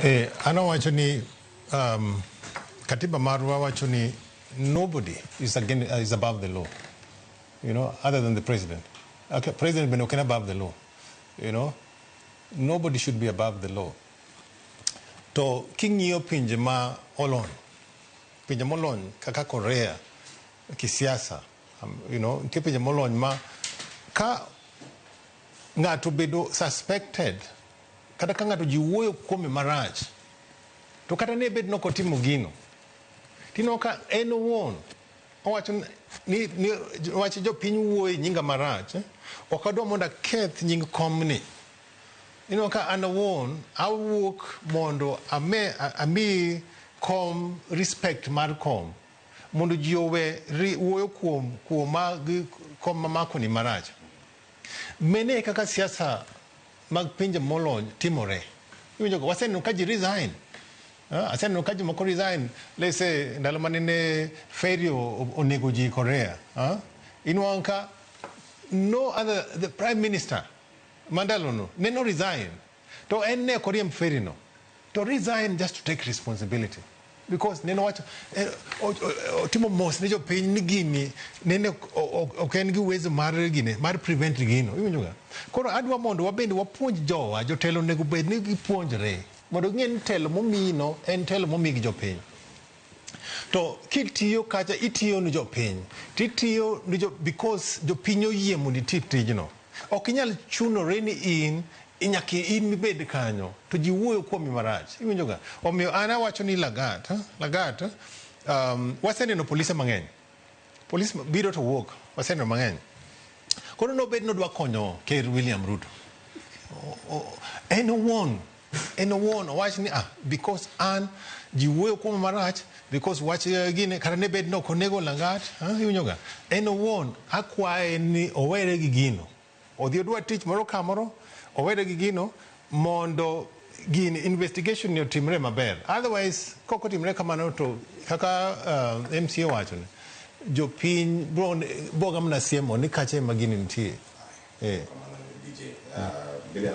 Eh, an awacho ni um, katiba marwa wacho ni nobody is, again, uh, is above the law you know, other than the president. Okay, president bende oken above the law you know, nobody should be above the law. To king'iyo pinje ma olony, pinje molony kaka Korea kisiasa, um, you know, nitie pinje molony ma ka ng'ato bedo suspected Kata ka ng'ato ji wuoyo kuome marach, to kata ne bed ni ok otimo gino, tineno ka en owuon owacho ni, ni wach jopiny wuoyo e nyinga marach, ok adwa mondo aketh nying komni. Ineno ka an awuon awuok mondo ame, ami kom respect mar kom mondo ji owe ri, wuoyo kuom kuoma gi kom mamakoni marach. Mene e kaka siasa mag pinje molony timore. Iwinjo go waseneno ka ji resign. Ah, aseneno ka jomoko resign let's say ndalo mane ne ferry o- o- onego ji Korea. Ah, inwang' ka no other the prime minister mandalono ne no resign to en ne ok oriemb ferry no. to resign just to take responsibility because nene owacho eh, o- o- otimo mos ne jopiny ni gini nene ok- ok ok en gi uwezo mar gine mar prevent gino iwinjoga koro adwa mondo wabende wapuonj jowa jotelo onego bed ni gipuonjre mondo ging'e ni telo momino en telo momi gi jopiny To kitiyo kacha itiyo ni jopiny to itiyo ni jo, because jopiny oyie mondo iti tijno. Ok inyal chunore ni in nyaka in mibed kanyo to ji wuoyo kuomi marach. Iwinjoga? Omiyo an awacho ni Lagat, Lagat um, waseneno polise mang'eny. Polis biro to wuok, waseneno mang'eny. Koro nobed nodwa konyo Ker William Ruto. O- o- En owuon En owuon owach ni ah, because an ji wuoyo kuoma marach because wach eh, gine kata ne bed ni ok onego langat ah, iwinjoga en owuon akwaye ni owere gi gino odhi odwa tich moro kamoro owere gi gino mondo gini investigation ni otimre maber otherwise kok otimre kamano to kaka uh, mca wachone jopiny bro- boga mna siemo ni kacha ema gini nitie eh.